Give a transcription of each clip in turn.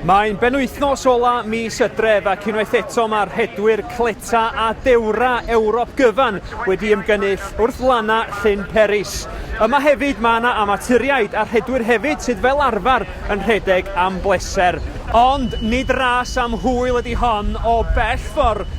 Mae'n benwythnos ola mis y dref ac unwaith eto mae rhedwyr cleta a dewra Ewrop gyfan wedi ymgynnull wrth lana Llyn Peris. Yma hefyd mae yna amaturiaid a rhedwyr hefyd sydd fel arfer yn rhedeg am bleser. Ond nid ras am hwyl ydy hon o bell ffordd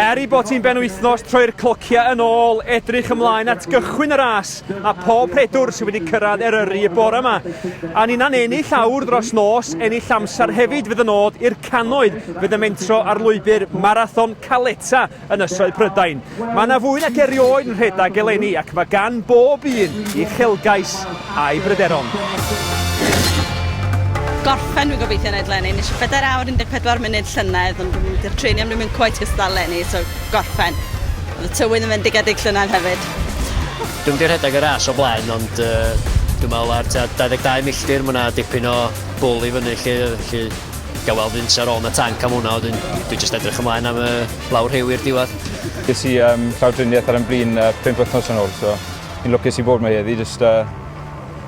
Er ei bod hi'n benwythnos troi'r clociau yn ôl, edrych ymlaen at gychwyn y ras a pob rhedwr sydd wedi cyrraedd Eryri y bore yma. A ninnau'n ennill awr dros nos, ennill amser hefyd fydd yn nod i'r canoedd fydd yn mentro ar lwybr Marathon Caleta Ynysoedd Prydain. Mae yna fwy nac erioed yn rhedeg eleni ac mae gan bob un i uchelgais a'i bryderon. Gorffen, dwi'n gobeithio yn edrych eleni. Nes i bedair awr 14 munud llynedd, ond dwi'n mynd i'r treni am ddim yn cweit gystal eleni, so gorffen. Oedd y tywydd yn fendigedig llynedd hefyd. Dwi'n mynd i rhedeg y ras o blaen, ond uh, dwi'n meddwl ar 22 milltir, mae yna dipyn o bwl i fyny lle, lle Gael weld Vince ar ôl yn y tanc am hwnna, wedyn dwi jyst edrych ymlaen am y lawr rhyw i'r diwedd. Ges i um, llawdriniaeth ar ymblin uh, pimp wythnos yn ôl, so fi'n lwcus i bod mae heddi, jyst, uh,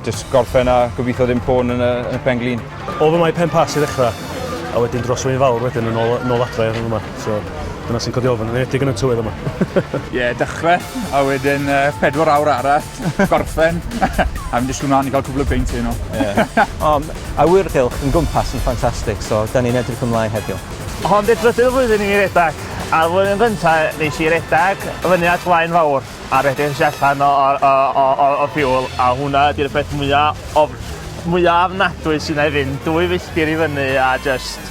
jyst gorffen a gobeithio ddim pôn yn y, yn y pen glin. Oedd yma i pen pas i ddechrau, a wedyn dros wy'n fawr wedyn yn ôl, yn ôl adre yn yma. So, dyna sy'n codi ofyn, yn edig yn y tywydd yma. Ie, yeah, dechrau, a wedyn uh, pedwar awr arall, gorffen, a mynd i siwmlaen i cael cwbl o beint hyn o. Yeah. um, Awyrgylch yn gwmpas yn ffantastig so 'dan ni'n edrych ymlaen heddiw. Hon di'r drydydd flwyddyn i mi redag, a'r flwyddyn gynta nes i redag fyny at Flaen Fawr a rhedeg tu allan o o o o o fuel a hwnna ydi'r peth mwya of- mwya ofnadwy sy'n 'nai fynd dwy filltir i fyny a jyst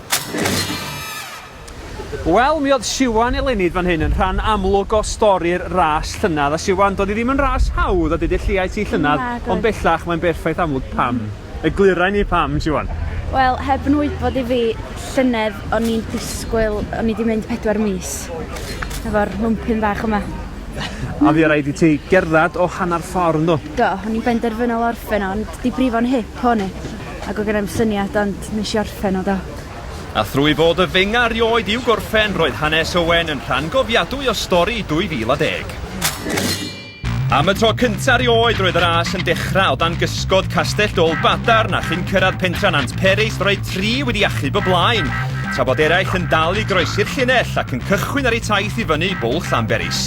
Wel, mi oedd Siwan eleni fan hyn yn rhan amlwg o stori'r ras llynedd. A Siwan, doedd hi ddim yn ras hawdd a didylliais i llynedd, ond bellach mae'n berffaith amlwg pam. Eglurai ni pam, Siwan. Wel, heb yn wybod i fi, llynedd o'n i'n disgwyl, o'n i wedi mynd pedwar mis efo'r mwmpyn bach yma. A fi rhaid i ti gerdded o hanner ffordd, ynddo? Do, o'n i'n benderfynol orffen o, ond di brifo'n hip o'n i. Ac oedd genai'm syniad ond nes i orffen o do. A thrwy fod y fenga rioed i'w gorffen, roedd hanes Owen yn rhan gofiadwy o stori 2010. Am y tro cynta rioed roedd y ras yn dechrau o dan gysgod Castell Dol Badarn a chyn cyrraedd pentra Nant Peris roedd tri wedi achub y blaen, tra bod eraill yn dal i groesi'r llinell ac yn cychwyn ar eu taith i fyny Bwlch Llanberis.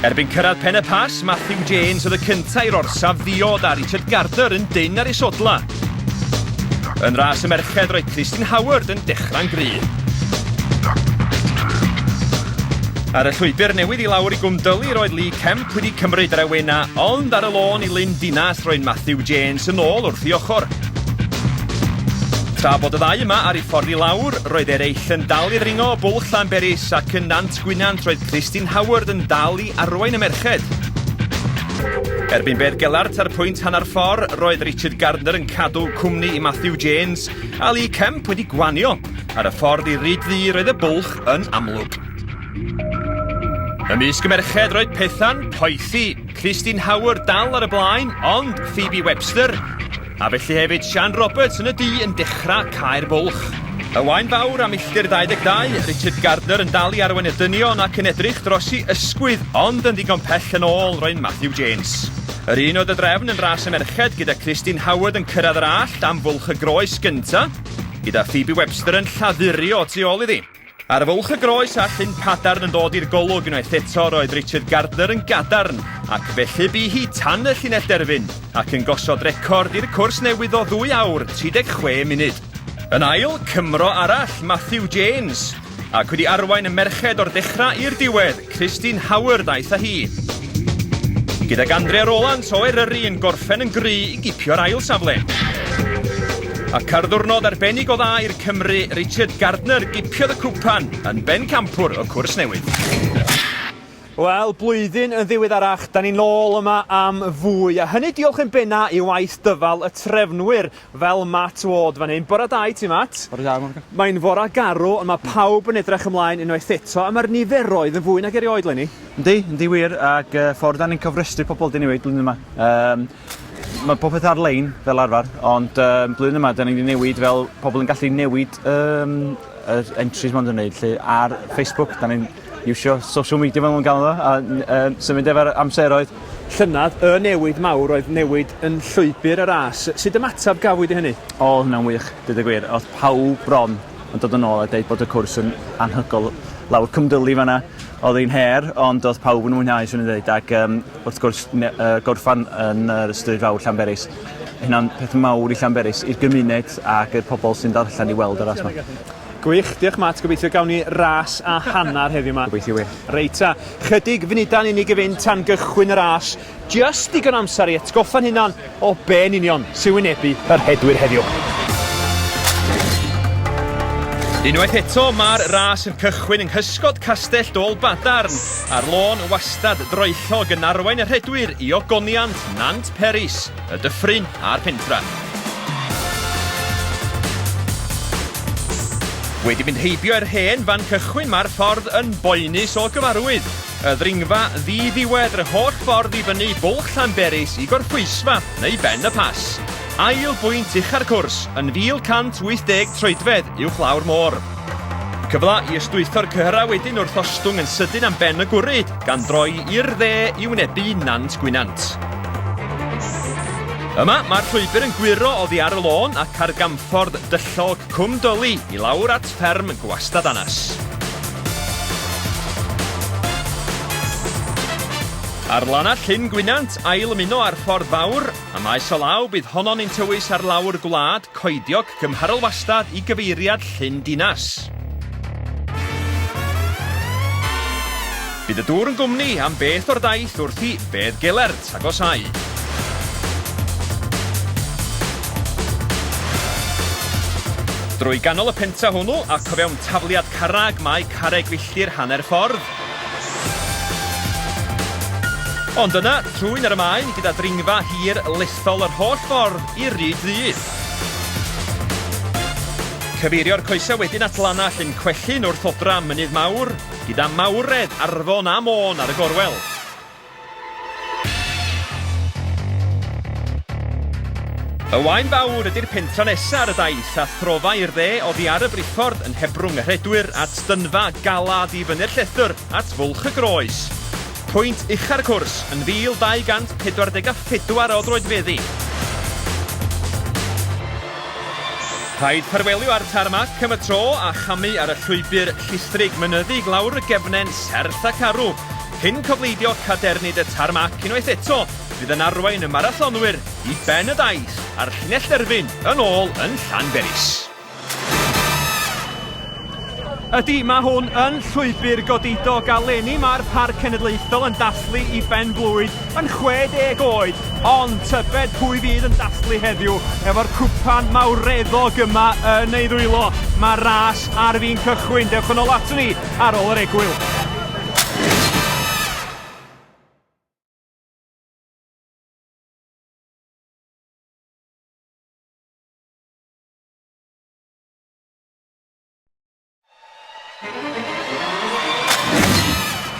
Erbyn cyrraedd Pen-y-Pas, Matthew Janes oedd y cynta i'r orsaf ddiod a Richard Gardner yn dyn ar ei sodla. Yn ras y merched roedd Christine Howard yn dechrau'n gryf. Ar y llwybr newydd i lawr i Gwmdyli roedd Lee Kemp wedi cymryd yr awena, ond ar y lôn i Lyn Dinas roedd Matthew Janes yn ôl wrth i ochr. Tra bod y ddau yma ar ei ffordd i lawr, roedd eraill yn dal i ddringo o bwlch Llanberis ac yn Nant Gwynant roedd Christine Howard yn dal i arwain y merched. Erbyn bedd Gelart ar pwynt hanner ffordd, roedd Richard Gardner yn cadw cwmni i Matthew James a Lee Kemp wedi gwanio. Ar y ffordd i Ryd Ddu roedd y bwlch yn amlwg. Ymysg y merched roedd Pethan, Poethi, Christine Howard dal ar y blaen, ond Phoebe Webster A felly hefyd Sian Roberts yn y du yn dechrau caer bwlch. Y wain fawr a milltir 22, Richard Gardner yn dal i arwain y dynion ac yn edrych dros i ysgwydd ond yn ddigon pell yn ôl roedd Matthew James. Yr un oedd y drefn yn ras y merched gyda Christine Howard yn cyrraedd yr allt am fwlch y groes gyntaf, gyda Phoebe Webster yn lladduri o tu ôl iddi. Ar fwlch y groes a llyn padarn yn dod i'r golwg unwaith eto roedd Richard Gardner yn gadarn ac felly bu hi tan y llinell derfyn ac yn gosod record i'r cwrs newydd o ddwy awr 36 munud. Yn ail, Cymro arall, Matthew James, ac wedi arwain y merched o'r dechrau i'r diwedd, Christine Howard aeth â hi. Gydag Andrea Rolant o Eryri yn gorffen yn gry i gipio'r ail safle. Ac ar ddwrnod arbennig o dda i'r Cymry, Richard Gardner gipiodd y cwpan yn bencampwr y cwrs newydd. Wel, blwyddyn yn ddiweddarach, da ni'n ôl yma am fwy, a hynny diolch yn benna i waith dyfal y trefnwyr Fel Matt Ward fan hyn. Bore da i ti Matt. Bore da Morgan. Mae'n fore garw ond mae pawb yn edrych ymlaen unwaith eto a mae'r niferoedd yn fwy nag erioed Lenny. Yndi, yndi wir ac uh, ffordd da ni'n cofrestru pobl dyn ni wedi blwyddyn yma. Um, mae popeth ar-lein fel arfer ond um, blwyddyn yma da ni wedi newid fel pobl yn gallu newid um, yr entries ma'n gwneud lle ar Facebook da ni'n iwsio social media fel maen nhw'n galw fo, a um, symud efo'r amseroedd. Llynedd, y newid mawr oedd newid yn llwybr y ras. Sut ymateb gafwyd i hynny? O, hwnna'n wych, dweud y gwir. Oedd pawb bron yn dod yn ôl a dweud bod y cwrs yn anhygol lawr cymdylu fanna. Oedd hi'n her, ond oedd pawb yn mwynhau, swn i'n dweud, ac um, wrth gwrs uh, gorffan yn yr ystryd fawr Llanberis. Hynna'n peth mawr i Llanberis, i'r gymuned ac i'r pobl sy'n darllen i weld yr asma. Gwych, diolch Matt, gobeithio gawn ni ras a hanner heddiw ma. Gobeithio wir. Reit ta, chydig funuda'n unig i fynd tan gychwyn y ras, just digon amser i atgoffa'n hunan o be yn union sy'n wynebu y rhedwyr heddiw. Unwaith eto, mae'r ras yn cychwyn yng nghysgod Castell Dôl Badarn, a'r lôn wastad droellog yn arwain y rhedwyr i ogoniant Nant Peris. Y Dyffryn a'r Pentra. Wedi mynd heibio i'r hen fan cychwyn mae'r ffordd yn boenus o gyfarwydd. Y ddringfa ddi-ddiwedd yr holl ffordd i fyny Bwlch Llanberis i Gorffwysfa neu Ben y Pas. Ail bwynt ucha'r cwrs yn 1,180 troedfedd uwchlaw'r môr. Cyfle i ystwytho'r cyhyrau wedyn wrth ostwng yn sydyn am ben y gwrw, gan droi i'r dde i wynebu Nant Gwynant. Yma, mae'r llwybr yn gwyro oddi ar y lôn ac ar gamffordd dyllog Cwm Dyli i lawr at fferm Gwastad Anas. Ar lana Llyn Gwynant, ail ymuno â'r ffordd fawr, a maes o law bydd honno'n ein tywys ar lawr gwlad coediog Cymharol wastad i gyfeiriad Llyn Dinas. Bydd y dŵr yn gwmni am beth o'r daith wrth i Fedd Gelert agosáu. Drwy ganol y penta hwnnw ac o fewn tafliad carreg mae carreg filltir hanner ffordd. Ond yna, trwyn ar y maen gyda dringfa hir lethol yr holl ffordd i'r ryd ddydd. Cyfeirio'r coesau wedyn at lanach yn Cwellyn wrth odra Mynydd Mawr, gyda Mawredd, Arfon a Môn ar y gorwel. Y Waun Fawr ydy'r pentra nesaf ar y daith a throfa i'r dde oddi ar y briffordd yn hebrwng y rhedwyr at dynfa galad i fyny'r llethr at Fwlch y Groes. Pwynt ucha'r cwrs yn 1,244 o droedfeddi. Rhaid ffarwelio â'r tarmac am y tro a chamu ar y llwybr llistrig mynyddig lawr y gefnen serth ac arw, cyn cofleidio cadernid y tarmac unwaith eto fydd yn arwain y marathonwyr i ben y daith a'r llinell derfyn yn ôl yn Llanberis. Ydy, mae hwn yn llwybr godidog a leni mae'r Parc Cenedlaethol yn dathlu i Ben Blwyd yn 60 oed, ond tybed pwy fydd yn dathlu heddiw efo'r cwpan mawreddog yma yn ei ddwylo. Mae ras ar fi'n cychwyn, dewch yn ôl ato ni ar ôl yr egwyl.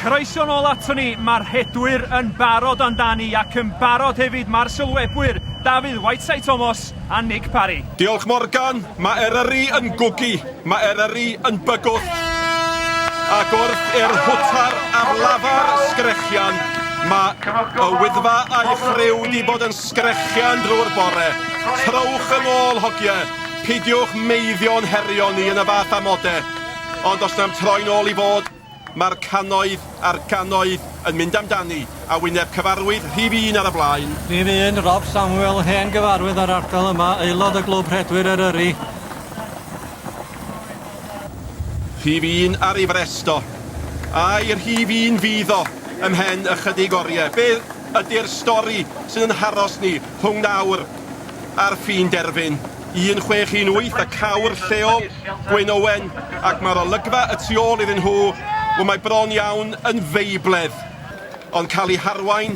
Croeso nôl ato ni, mae'r rhedwyr yn barod amdani ac yn barod hefyd mae'r sylwebwyr Dafydd Whiteside Thomas a Nick Parry. Diolch Morgan, mae Eryri yn gwgu, mae Eryri yn bygwth. Ac wrth i'r hwtar ar lafar sgrechian, mae y Wyddfa a'i ffriw wedi bod yn Sgrechian drwy'r bore. Trowch yn ôl, hogie. Pidiwch meiddio'n herio ni yn y fath amode. Ond os na'm troi'n ôl i fod, mae'r cannoedd a'r gannoedd yn mynd amdani, a wyneb cyfarwydd rhif un ar y blaen. Rhif un, Rob Samuel, hen gyfarwydd o'r ardal yma, aelod o Glwb Rhedwyr Eryri. Rhif un ar ei frest o. Ai rhif un fydd o, ymhen ychydig oriau? Be ydy'r stori sydd yn haros ni rhwng nawr a'r ffin derfyn? 1618 a cawr lleol, Gwyn Owen, ac mae'r olygfa y tu ôl iddyn nhw, wel mae bron iawn yn feibledd, ond cael ei harwain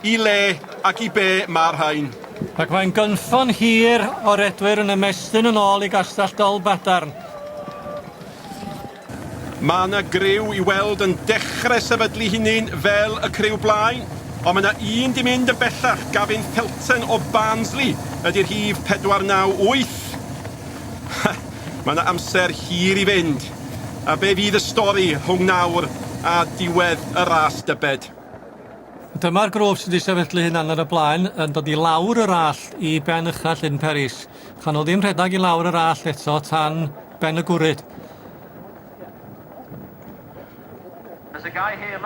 I le ac i be mae'r rhain? Ac mae'n gynffon hir o redwyr yn ymestyn yn ôl i Gastell Dolbadarn. Mae yna griw i weld yn dechre sefydlu hunin fel y criw blaen, ond mae yna un di mynd yn bellach, Gavin Felton o Barnsley ydi rhif 498. Ha, mae yna amser hir i fynd. A be fydd y stori rhwng nawr a diwedd y ras dybed? Dyma'r grwp sydd wedi sefydlu hunan ar y blaen yn dod i lawr yr allt i ben ucha Llyn Peris. Chan nhw ddim rhedag i lawr yr allt eto tan ben y gwryd.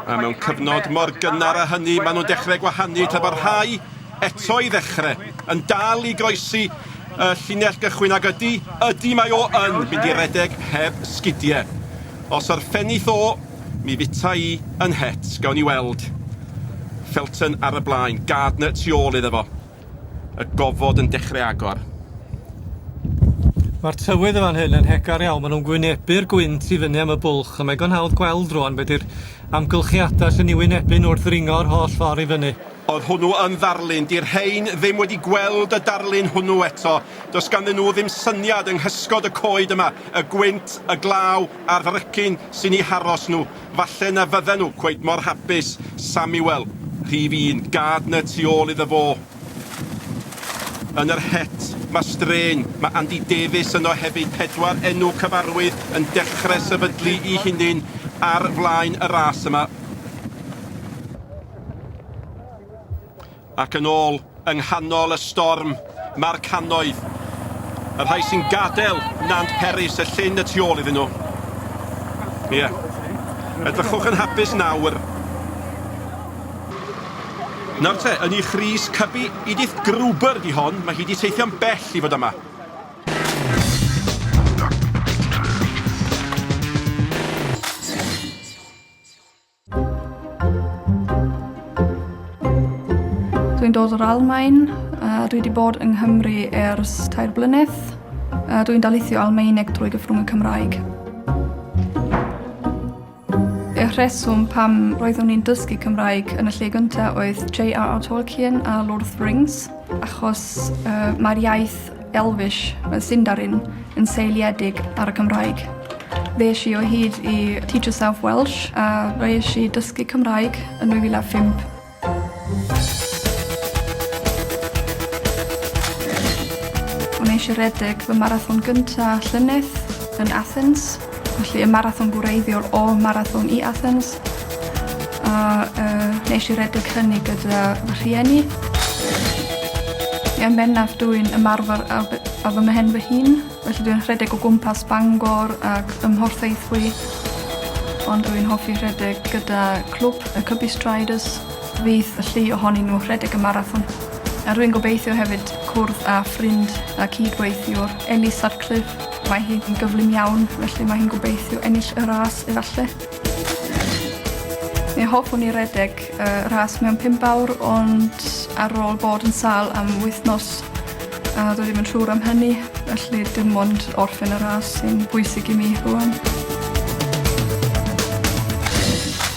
A mewn cyfnod mor gynnar a hynny maen nhw'n dechrau gwahanu tra bod rhai eto i ddechrau yn dal i groesi y llinell gychwyn ac ydy, ydy mae o yn mynd i redeg heb sgidiau. Os yr ffenith o, Mi fita i yn het, gawn ni weld. Felton ar y blaen, Gardner tu ôl iddo fo. Y gofod yn dechrau agor. Mae'r tywydd yn fan hyn yn hegar iawn, maen nhw'n gwynebu'r gwynt i fyny am y bwlch, a mae digon hawdd gweld rwan be di'r amgylchiadau sy'n ei wynebu nhw wrth ddringo yr holl ffordd i fyny. Oedd hwnnw yn ddarlun? Di'r rhein ddim wedi gweld y darlun hwnnw eto. Does ganddyn nhw ddim syniad yng nghysgod y coed yma, y gwynt, y glaw, Ar frecyn sy'n eu haros nhw. Falle na fydden nhw cweit mor hapus, Samuel, rhif un, Gardner tu ôl iddo fo yn yr het. Mae straen. Mae Andy Davies yno hefyd. Pedwar enw cyfarwydd yn dechre sefydlu i hunin ar flaen y ras yma. Ac yn ôl, yng nghanol y storm, mae'r cannoedd, y rhai sy'n gadael Nant Peris, y llyn y tu ôl iddyn nhw. Ie. Edrychwch yn hapus nawr. Nawr te, yn eich rhys cybi, Edith Gruber di hon, mae hi di teithio'n bell i fod yma. Dwi'n dod o'r Almaen, a dwi wedi bod yng Nghymru ers tair blynedd. A dwi'n daleithio Almaeneg drwy gyfrwng y Cymraeg. Y rheswm pam roeddwn i'n dysgu Cymraeg yn y lle gyntaf oedd J.R.R. Tolkien a Lord of the Rings, achos uh, mae'r iaith Elvish, mae Sindarin yn seiliedig ar y Cymraeg. Fe eisiau o hyd i Teach Yourself Welsh a fe eisiau dysgu Cymraeg yn 2005. Mae eisiau redeg fy marathon gyntaf llynedd yn Athens. Felly y marathon gwreiddiol o Marathon i Athens. A uh, nes i redeg hynny gyda fy rhieni. Yn bennaf dwi'n ymarfer a, a fy mhen fy hun, felly dwi'n rhedeg o gwmpas Bangor ac ymhorthaethwy. Ond dwi'n hoffi rhedeg gyda clwb y Cubby Striders, fydd y llu ohonyn nhw rhedeg y marathon. A rwy'n gobeithio hefyd cwrdd â ffrind a cydweithiwr Ellie Sutcliffe Mae hi yn gyflym iawn, felly mae hi'n gobeithio ennill y ras efallai. Mi hoffwn i redeg y ras mewn pimp awr, ond ar ôl bod yn sal am wythnos, a dwi ddim yn siŵr am hynny, felly dim ond orffen y ras sy'n bwysig i mi rwan.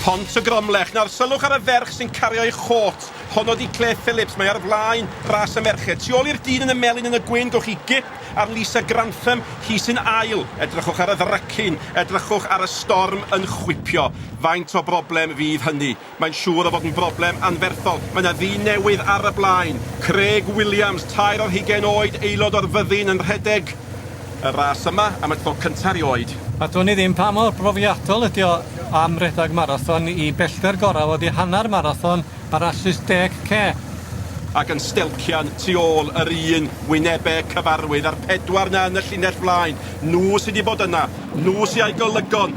Pont y Gromlech. Nawr, sylwch ar y ferch sy'n cario'i chôt. Honno di Claire Phillips. Mae ar flaen ras y merched. Tu ôl i'r dyn yn y melyn yn y gwyn, gwych chi gip Ar Lisa Grantham, hi sy'n ail. Edrychwch ar y ddrycin, edrychwch ar y storm yn chwipio. Faint o broblem fydd hynny? Mae'n siŵr o fod yn broblem anferthol. Mae 'na ddyn newydd ar y blaen, Craig Williams, tair ar hugain oed, aelod o'r fyddin yn rhedeg y ras yma am y tro cynta' erioed. A dwn i ddim pa mor brofiadol ydi o am redeg marathon i bellter gorau oddi hanner marathon. Parasus deg cep. Ac yn stelcian tu ôl yr un wynebe cyfarwydd a'r pedwar 'na yn y llinell flaen, nhw sy 'di bod yna, nhw sy a'i golygon.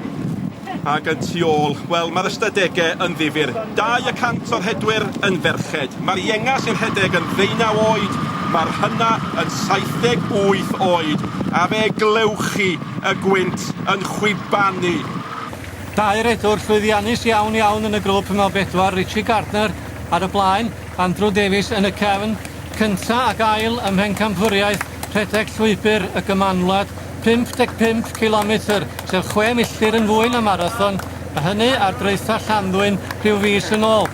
Ac yn tu ôl, wel, mae'r ystadege yn ddifyr. Dau y cant o'r rhedwyr yn ferched. Mae'r ienga sy'n rhedeg yn ddeunaw oed, mae'r hynna yn saithdeg wyth oed, a fe glewch chi y gwynt yn chwibanu. Dau redwr llwyddiannus iawn iawn yn y grŵp yn o bedwar, Richie Gardner ar y blaen, Andrew Davies yn y cefn, cynta ac ail ym mhencampwriaeth rhedeg Llwybr y Gymanwlad, 55 cilometr, sef chwe milltir yn fwy na marathon, a hynny ar draetha Llanddwyn rhyw fis yn ôl.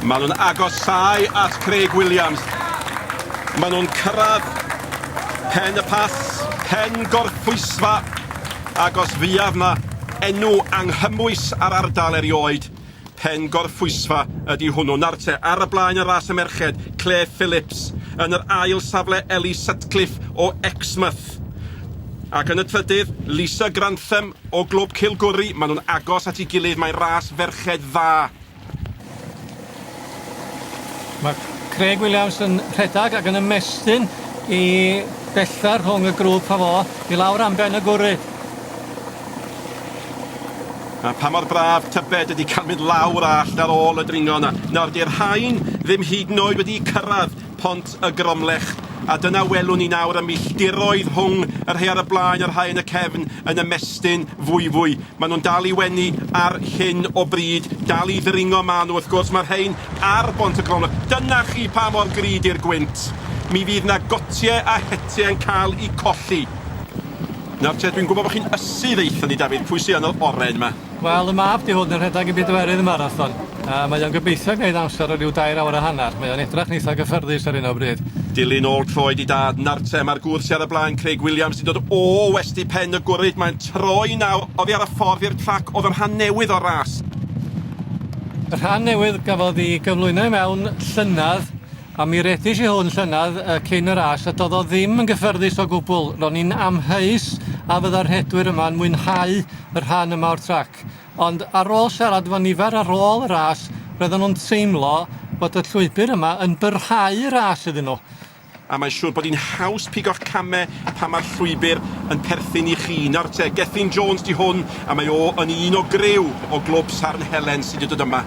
Maen nhw'n agosáu at Craig Williams. Maen nhw'n cyrraedd pen y pas, pen gorffwysfa Ac os fuodd 'na enw anghymwys ar ardal erioed, Pen Gorffwysfa ydi hwnnw. Nawr te, ar y blaen yn Ras y Merched, Clare Phillips, yn yr ail safle Ellie Sutcliffe o Exmouth, ac yn y trydydd, Lisa Grantham o Glwb Cilgwri. Maen nhw'n agos at ei gilydd, mae'n ras ferched dda. Mae Craig Williams yn rhedeg ac yn ymestyn i bellter rhwng y grŵp a fo i lawr am ben y gwry. A pa mor braf tybed ydy cael mynd lawr a allt ar ôl y dringo yna. Nawr, 'di'r rhain ddim hyd yn oed wedi cyrraedd Pont y Gromlech, a dyna welwn ni nawr y milltiroedd rhwng y rhai ar y blaen a'r rhai yn y cefn yn ymestyn fwyfwy. Maen nhw'n dal i wenu ar hyn o bryd, dal i ddringo maen nhw wrth gwrs, mae'r rhain ar Bont y Gromlech. Dyna chi pa mor gry di'r gwynt. Mi fydd na gotie a hetie yn cael i colli. Nawr te, dwi'n gwybod bod chi'n ysu ddeutha ni Dafydd, pwy sy yn yr oren ma? Wel, y mab 'di hwn yn rhedeg y bedwerydd y marathon, a mae o'n gobeithio gneud amser o ryw dair awr a hanner. Mae o'n edrach yn eitha gyffyrddus ar hyn o bryd. Dilyn ôl troed i dad, Nartem, a'r gwr sy ar y blaen, Craig Williams, sy'n dod o west i pen y gwrid. Mae'n troi nawr oddi ar y ffordd i'r trac oedd y rhan newydd o'r ras. Y rhan newydd gafodd i gyflwyno i mewn llynedd. A mi reddish i hwn llynedd yy cyn y ras a do'dd o ddim yn gyffyrddus o gwbwl, ro'n i'n amheus a fydda'r rhedwyr yma yn mwynhau y rhan yma o'r trac, ond ar ôl siarad efo nifer ar ôl y ras roedden nhw'n teimlo bod y llwybr yma yn byrhau y ras iddyn nhw. A mae'n siŵr bod hi'n haws pigo'ch camau pan mae'r llwybr yn perthyn i chi. Nawr te, Gethin Jones 'di hwn a mae o yn un o griw o glwb Sarn Helen sy' 'di dod yma.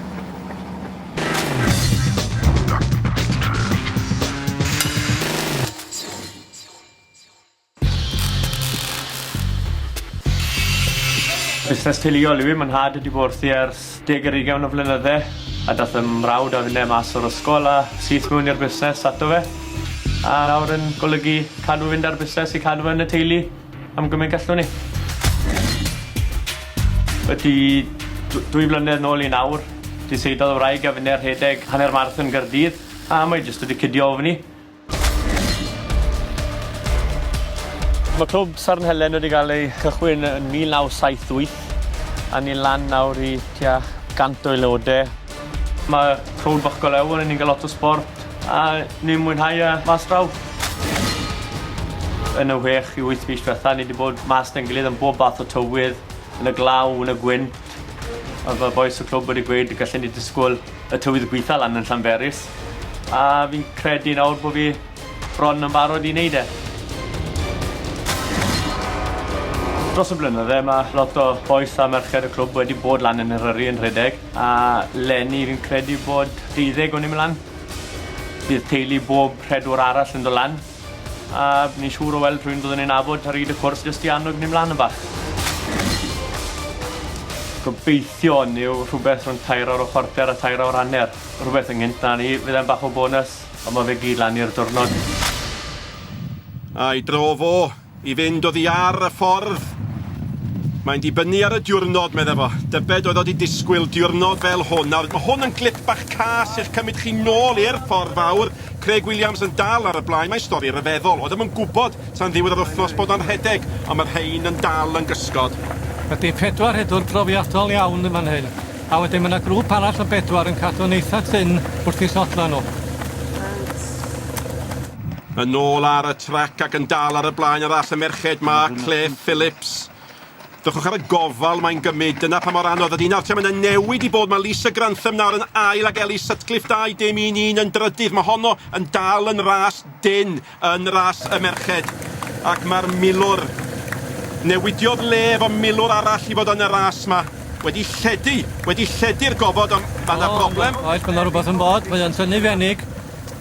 Busnes teuluol yw hi, mae nhad wedi bod wrthi ers deg ar ugain o flynydde a daeth fy mrawd a finne mas o'r ysgol a syth mewn i'r busnes ato fe a nawr yn golygu cadw fynd â'r busnes i cadw fe yn y teulu. Am gymaint gallwn ni. Ydi dw- dwy flynedd nôl i nawr, di seidlodd y wraig a finne rhedeg hanner marathon Gaerdydd, a mae jyst wedi cydio ofn i. Mae clwb Sarn Helen wedi cael ei cychwyn yn 1978 a ni'n lan nawr i tua 100 o aelodau. Mae Rhôl Bach Go Lew yn unig a lot o sport a ni'n mwynhau e mas draw. Yn y whech i wyth mis diwetha ni 'di bod mas 'da'n gilydd am bob bath o tywydd, yn y glaw, yn y gwynt. A fel bois y clwb wedi gweud gallen ni disgwl y tywydd gwitha lan yn Llanberis a fi'n credu nawr bod fi bron yn barod i wneud e. Dros y blynydde mae lot o bois a merched y clwb wedi bod lan yn Eryri yn rhedeg A leni fi'n credu bod deuddeg o'n ni'n lan. Bydd teulu bob rhedwr arall yn dod lan. A ni'n siŵr o weld rhywun byddwn ni'n nabod ar hyd y cwrs jyst i annog ni mlaen yn bach. Gobeithio hwn yw rhywbeth rhwng tair awr a chwarter a tair awr hanner. Rhywbeth ynghynt na ni. Fydd e'n bach o bonws, ond mae fe gyd lan i'r diwrnod. A'i dro fo. I fynd oddi ar y ffordd. Mae'n dibynnu ar y diwrnod, medda fo. Dybed oedd o wedi disgwyl diwrnod fel hwn. Nawr, mae hwn yn glip bach cas i'ch cymryd chi nôl i'r ffordd fawr. Craig Williams yn dal ar y blaen. Mae'n stori ryfeddol. Oeddem yn gwybod tan ddiwedd yr wythnos bod o'n rhedeg, ond mae'r rhein yn dal yn gysgod. Ydy, pedwar rhedwr profiadol iawn yn fan hyn. A wedyn mae 'na grŵp arall o bedwar yn cadw'n eitha tynn wrth 'u sodlau nhw. Reit. Yn ôl ar y trac ac yn dal ar y blaen arall y merched 'ma, Clare Phillips. Dychwch ar y gofal mae'n gymryd, dyna pa mor anodd ydy. Nawr te, mae yna newid i bod, mae Lisa Grantham nawr yn ail ac Ellie Sutcliffe 21 yn drydydd. Mae honno yn dal yn ras dyn yn ras y merched. Ac mae'r milwr, newidiodd le efo milwr arall i fod yn y ras 'ma. Wedi lledu, wedi lledu'r gofod, ond mae yna broblem. Oes, mae yna rhywbeth yn bod, mae o'n tynnu fenig.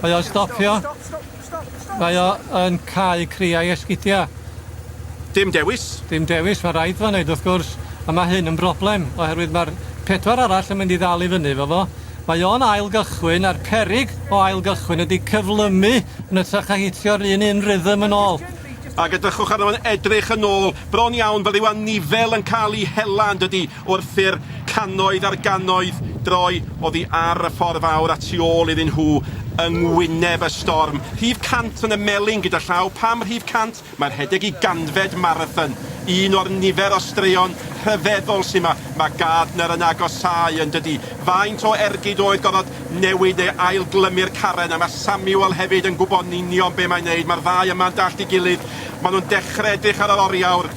Mae o'n stopio. Stop, stop, stop, stop. Mae o yn cau criau esgidia. Dim dewis. Dim dewis, mae rhaid fo wneud wrth gwrs, a mae hyn yn broblem, oherwydd mae'r pedwar arall yn mynd i ddal i fyny efo fo. Mae o'n ail gychwyn, a'r perig o ail gychwyn ydy cyflymu yn ytrach a hitio'r un un rhythm yn ôl. Ag edrychwch arno fo'n edrych yn ôl, bron iawn, fel yw anifel yn cael ei hela, yn dydy? Wrth i'r cannoedd ar gannoedd droi oddi ar y ffordd fawr a tu ôl iddyn nhw yng ngwyneb y storm, rhif 100 yn y melin gyda llaw. Pam rhif 100? Mae rhedeg i ganfed marathon, un o'r nifer o straeon rhyfeddol sy' 'ma. Mae Gardner yn agosáu, yn dydi? Faint o ergyd oedd gorfod newid neu ailglymu'r caren? A mae Samuel hefyd yn gwybod yn union be' mae'n neud. Mae'r ddau yma'n dallt ei gilydd. Maen nhw'n dechre edrych ar yr oriawr.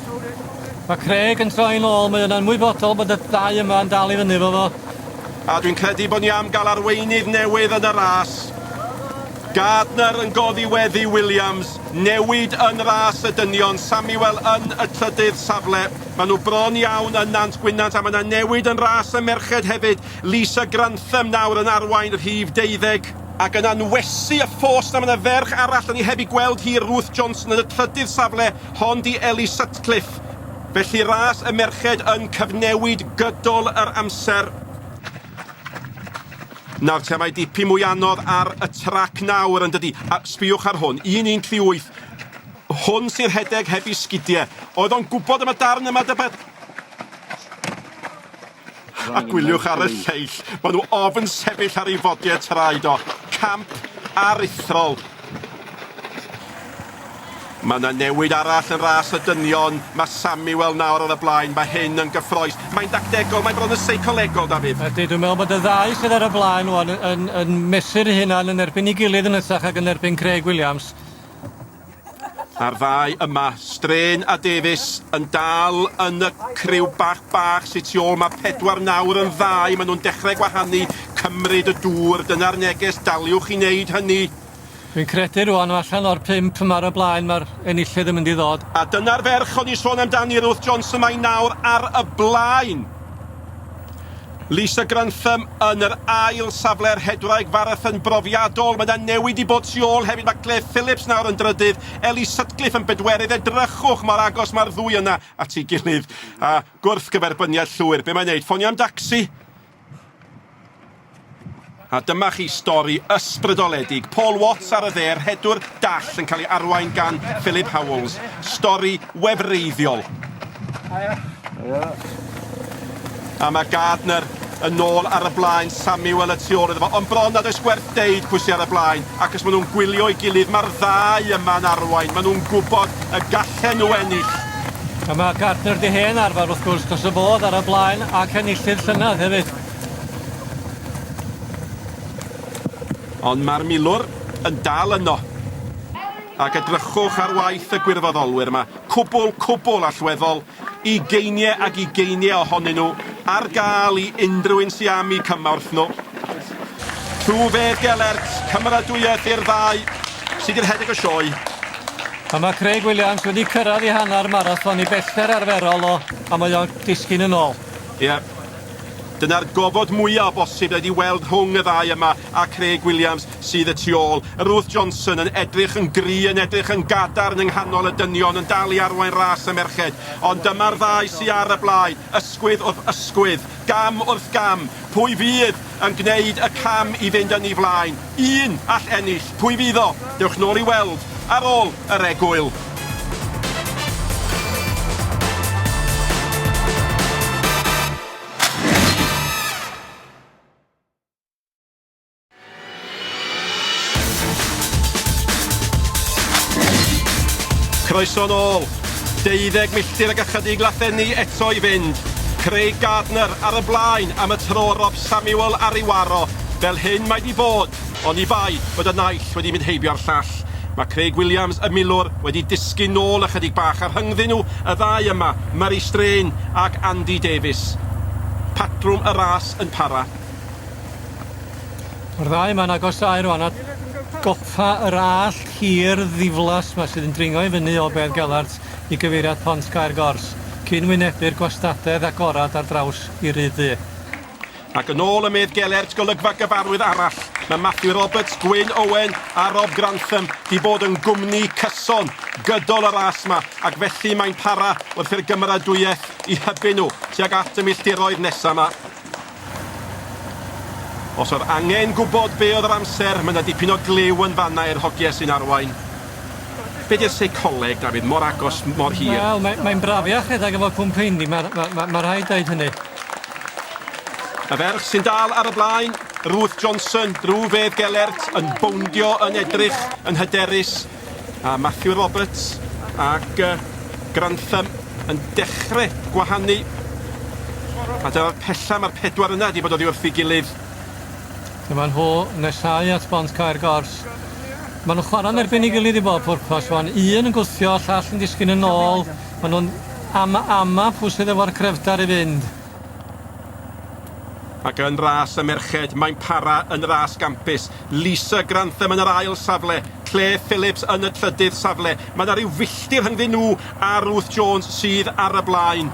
Mae Craig yn troi nôl, mae yna'n ymwybodol bod y dau yma yn dal i fyny efo fo. A dwi'n credu bod ni am gael arweinydd newydd yn y ras. Gardner yn goddi weddi Williams, newid yn ras y dynion, Samuel yn y trydydd safle. Maen nhw bron iawn yn Nant Gwynant a mae yna newid yn ras y merched hefyd, Lisa Grantham nawr yn arwain rhif deuddeg. Ac yna yn wesi y ffos 'na mae yna ferch arall 'da ni heb ei gweld hi, Ruth Johnson yn y trydydd safle. Hon 'di Ellie Sutcliffe, felly ras y merched yn cyfnewid gydol yr amser. Nawr te, mae dipyn mwy anodd ar y trac nawr yn dydi, a sbiwch ar hwn, 1-1-3-8. Hwn sy'n rhedeg heb i sgidiau. Oedd o'n gwybod am y darn yma, Dyfed? A gwyliwch ar y lleill, maen nhw ofn sefyll ar ei fodiau traed o. Camp aruthrol. Mae yna newid arall yn ras y dynion. Mae Samuel nawr ar y blaen. Mae hyn yn gyffroes. Mae'n dactegol, mae'n bron yn seicolegol, Dafydd. Ydy, dwi'n meddwl bod y ddau sydd ar y blaen wan yn, yn, yn mesu'r hunan yn erbyn ei gilydd yn hytrach ag yn erbyn Craig Williams. A'r ddau yma, Strain a Davies, yn dal yn y criw bach bach sy tu ôl, mae pedwar nawr yn ddau, maen nhw'n dechrau gwahanu, cymryd y dŵr, dyna'r neges, daliwch i wneud hynny. Dwi'n credu rwan, allan o'r pump yma ar y blaen, mae'r enillydd yn mynd i ddod. A dyna'r ferch o'n i'n sôn amdani, Ruth Johnson, mae nawr ar y blaen. Lisa Grantham yn yr ail safle ar Hebraeg Farathon brofiadol. Mae yna newid i bod tu ôl hefyd. Mae Claire Phillips nawr yn drydydd, Ellie Sutcliffe yn bedwerydd. Edrychwch mor agos mae'r ddwy yna at ei gilydd. A gwrthgyferbyniad llwyr. Be mae'n neud? Ffonio am dacsi? A dyma chi stori ysbrydoledig, Paul Watts ar y dde, rhedwr dall yn cael ei arwain gan Philip Howells. Stori wefreiddiol. A mae Gardner yn nôl ar y blaen, Samuel y tu ôl iddo fo, ond bron nad oes gwerth deud pwy sydd ar y blaen, ac os maen nhw'n gwylio'i gilydd, mae'r ddau yma'n arwain, maen nhw'n gwybod y gallen nhw ennill. A mae Gardner di hen arfer wrth gwrs, dros y fodd ar y blaen ac enillydd llynedd hefyd. Ond mae'r milwr yn dal yno. Ac edrychwch ar waith y gwirfoddolwyr yma, cwbl, cwbl allweddol, ugeiniau ac ugeiniau ohonyn nhw ar gael i unrhyw un sy am eu cymorth nhw. Tuve Gelert, cymeradwyaeth i'r ddau, sydd yn rhedeg y sioe. A mae Craig Williams wedi cyrraedd i hanner marathon i bellter arferol o, a mae o'n disgyn yn ôl. Ie. Dyna'r gofod mwya' o bosib dwi 'di weld rhwng y ddau yma a Craig Williams sydd y tu ôl. Ruth Johnson yn edrych yn gry', yn edrych yn gadarn yng nghanol y dynion, yn dal i arwain ras y merched. Ond dyma'r ddau sy ar y blaen, ysgwydd wrth ysgwydd, gam wrth gam. Pwy fydd yn gwneud y cam i fynd yn ei flaen? Un all ennill, pwy fydd o? Dewch nôl i weld ar ôl yr egwyl. Croeso nôl. Deuddeg milltir ag ychydig lathenni eto i fynd. Craig Gardner ar y blaen am y tro Samuel ar ei waro, fel hyn mae 'di bod, oni bai fod y naill wedi mynd heibio'r llall. Mae Craig Williams, y milwr, wedi disgyn nôl ychydig bach a rhyngddyn nhw y ddau yma, Murray Strain ac Andy Davies. Patrwm y ras yn para. Mae'r ddau yma'n agosáu rwan at gopa yr allt hir ddiflas 'ma sydd yn dringo i fyny o Bedd Gelart i gyfeiriad Pont Caer Gors, cyn wynebu'r gwastadedd agored ar draws i Ryd Ddu. Ac yn ôl y medd gelert golygfa gyfarwydd arall, mae Matthew Roberts, Gwyn Owen a Rob Grantham 'di bod yn gwmni cyson gydol y ras 'ma ac felly mae'n para wrth i'r gymeradwyaeth 'u hybu nhw tuag at y milltiroedd nesa 'ma. Os oedd angen gwybod be oedd yr amser, mae 'na dipyn o gliw yn fanna i'r hogie sy'n arwain. Be' 'di'r seicoleg Dafydd mor agos mor hir? Wel mae mae'n braf ia rhedeg efo cwmp heini ma' ma' ma' ma' rhaid deud hynny. Y ferch sy'n dal ar y blaen, Ruth Johnson, rhyw fedd gelert yn bowndio yn edrych yn hyderus a Matthew Roberts ac yy Grantham yn dechre gwahanu a dyna'r pella ma'r pedwar yna 'di bod oddi wrth 'i gilydd. Dyma nhw yn nesáu at bont cau'r gors. Ma' nw'n chwara'n erbyn 'i gilydd i bob pwrpas ŵan un yn gwthio y llall yn disgyn yn ôl ma' nw'n ama ama pw sydd efo'r crefdar i fynd. Ac yn ras y merched mae'n para yn ras gampus, Lisa Grantham yn yr ail safle, Clare Phillips yn y trydydd safle, ma' 'na ryw filltir rhyngddyn nhw a Ruth Jones sydd ar y blaen.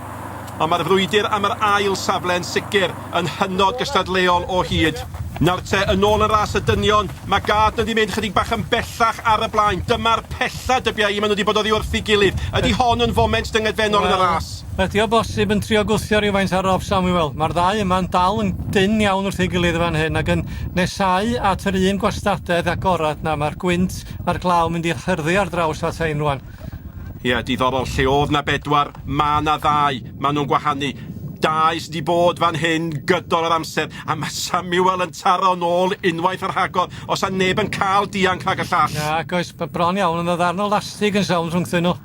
Ond mae'r frwydr am yr ail safle yn sicr yn hynod gystadleuol o hyd. Nawr te, yn ôl yn ras y dynion, mae Gardner 'di mynd chydig bach yn bellach ar y blaen. Dyma'r pella, dybiai i, maen nhw 'di bod oddi wrth ei gilydd. Ydi hon yn foment dyngedfennol yn y ras? Wel, ydi o bosib yn trio gwthio rywfaint ar Rob Samuel. Mae'r ddau yma'n dal yn dynn iawn wrth ei gilydd yn fan hyn ac yn nesáu at yr un gwastadedd agored. Na, mae'r gwynt a'r glaw mynd i'r hyrddi ar draws ata i yn rŵan. Ie, diddorol. Lle oedd 'na bedwar, ma' 'na ddau. Ma' nhw'n gwahanu. Dau sy 'di bod fan hyn gydol yr amser, a ma' Samuel yn taro nôl unwaith ar rhagor. Os 'sa neb yn cael dianc rhag y llall. Nac oes, b- bron iawn, ond ma' ddarn o lastig yn sownd rhwngthyn nhw.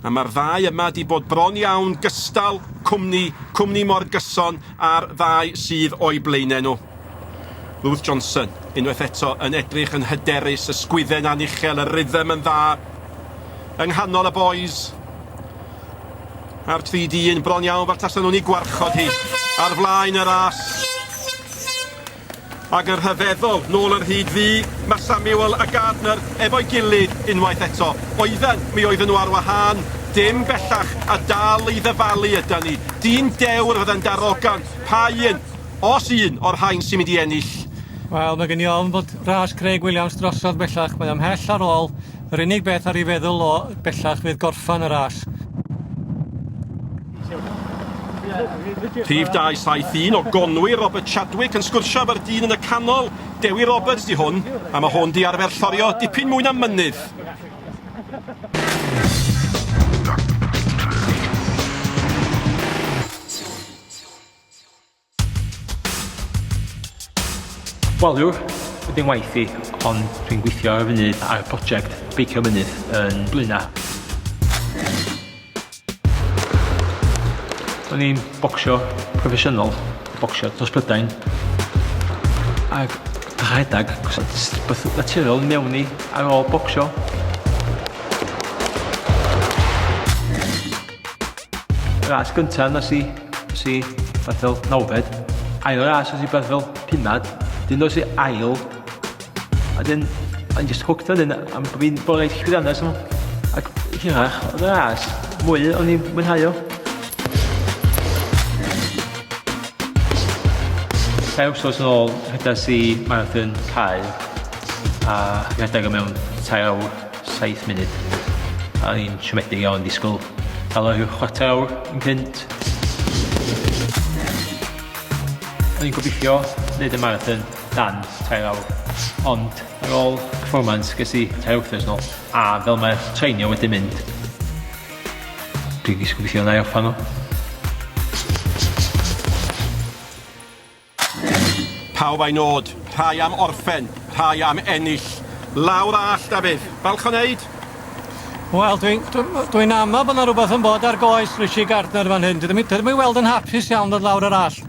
A ma'r ddau yma 'di bod bron iawn, gystal, cwmni, cwmni mor gyson â'r ddau sydd o'u blaenau nhw. Lewis Johnson, unwaith eto, yn edrych yn hyderus, ysgwydden a'n uchel, y rhythm yn dda. Yng nghanol y bois. A'r tri dyn, bron iawn, fel tasen nhw'n ei gwarchod hi. Ar flaen y ras. Ac yn rhyfeddol, nôl yr hyd ddu, mae Samuel a Gardner efo'i gilydd unwaith eto. Oedden, mi oedden nhw ar wahân, dim bellach, a dal i ddyfalu ydan ni. Dyn dewr fydde'n darogan, pa un? Os un o'r rhain sy'n mynd i ennill? Wel, mae gen i ofn bod ras Craig Williams drosodd bellach, mae o ymhell ar ôl, yr unig beth ar ei feddwl o bellach fydd gorffan y ras. Rhif 271 o Gonwy, Robert Chadwick yn sgwrsio efo'r dyn yn y canol, Dewi Roberts di hwn, a mae hwn di arfer llorio dipyn mwy na mynydd. Wel yw'r ydy'n waith i, ond dwi'n gweithio ar y funud ar y prosiect Beicio Mynydd yn Blaena. O'n i'n bocsio proffesiynol, bocsio dros Brydain, ac rhedeg, beth naturiol mewn i ar ôl bocsio. Ras gyntaf nes i, nes i barthol nawfed. Ail ras nes i barthol pumad. Dyn nes i ail. A dyn, I'm just hooked on hyn, am bod fi'n bore llwyddiannus nhw. Ac hirach, oedd y ras, mwy o'n i'n mwynhau o. Rhai wrthnos yn ôl, rhedais i marathon cael a rhedeg o mewn tair awr. 7 munud. A ni'n siomedig iawn disgwyl helo rhyw chwarter awr yn cynt. O'n i'n gobeithio wneud y marathon dan tair awr, ond ar ôl performance ges i tair wythnos nôl, a fel mae'r treinio wedi mynd, dwi'n gobeithio na i offa nhw. Pawb a'i nôd, rhai am orffen, rhai am ennill. Lawr a all, Dafydd. Balch o wneud? Wel, dwi'n dwi, dwi amau bod yna rhywbeth yn bod ar goes Rishi Gardner fan hyn. Dydym i weld yn hapus iawn ddod lawr yr all.